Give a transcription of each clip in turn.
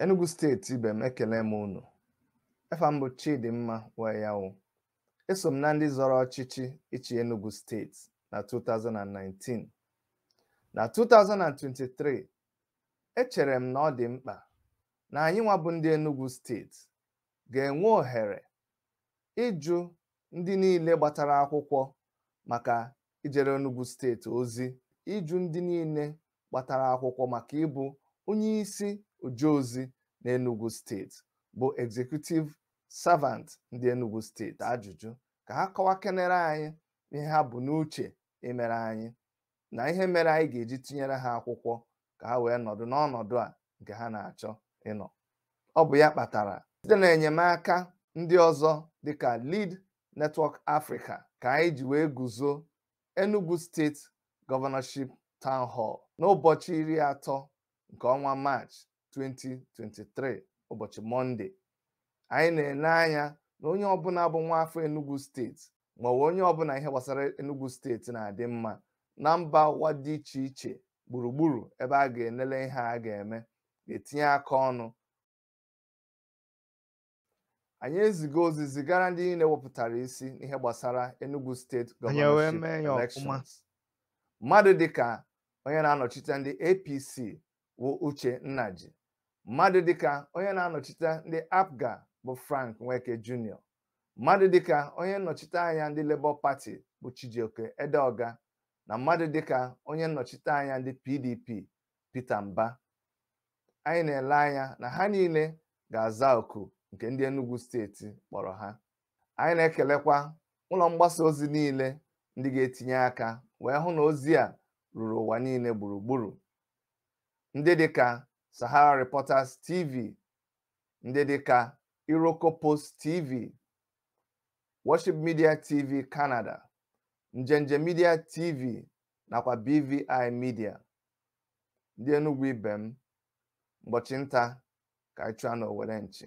Enugu steeti ibe m ekele m unu efa m bụ Chidimma Wayawu eso m na ndị zọrọ ọchịchị ịchị Enugu steeti na 2019 na 2023 echere m na ọ dị mkpa na anyị nwa bụ ndị Enugu steeti ga-enwe ohere ịjụ ndị niile gbatara akwụkwọ maka ijere Enugu steeti ozi ịjụ ndị niile gbatara akwụkwọ maka ịbụ onye isi oje ozi na Enugu steeti bụ executive servant ndị Enugu steeti ajụjụ ka ha kọwakenere anyị ihe ha bu n'uche imere anyị na ihe mere anyị ga-eji tinyere ha akwụkwọ ka ha wee nọdụ n'ọnọdụ a nke ha na-achọ ịnọ ọ bụ ya kpatara site na enyemaka ndị ọzọ dịka Lead Network Africa ka anyị ji wee guzo Enugu State Governorship Town Hall n'ụbọchị iri atọ nke ọnwa Maachị 2023 ụbọchị mọnde anyị na-ele anya na onye ọbụla bụ nwa afọ Enugu steeti maọbụ onye ọbụla ihe gbasara Enugu steeti na-adị mma na mba ụwa dị iche iche gburugburu ebe a ga-enele ihe a ga-eme ga-etinye aka ọnụ anyị ezigo ozi zigara ndị niile wepụtara isi n'ihe gbasara Enugu State governorship elections mmadụ dịka onye na-anọchite ndị APC bụ Uche Nnaji mmadụ dịka onye na-anọchite ndị APGA bụ Frank Nweke Jr mmadụ dịka onye nnọchite anya ndị Labour Party bụ Chijioke Edeoga na mmadụ dịka onye nnọchite anya ndị PDP Peter Mbah anyị na-ele anya na ha niile ga-aza oku nke ndị Enugu steeti kpọrọ ha anyị na-ekelekwa ụlọ mgbasa ozi niile ndị ga-etinye aka wee hụ na ozi a ruru ụwa niile gburugburu ndị dịka Sahara Reporters TV ndị dịka Iroko Post TV Worship Media TV Canada Njenje Media TV nakwa BVI Media ndị Enugu ibe m ụbọchị nta ka anyị chụọ na owere nchi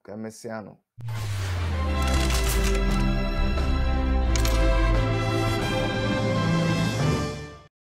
ka emesịanụ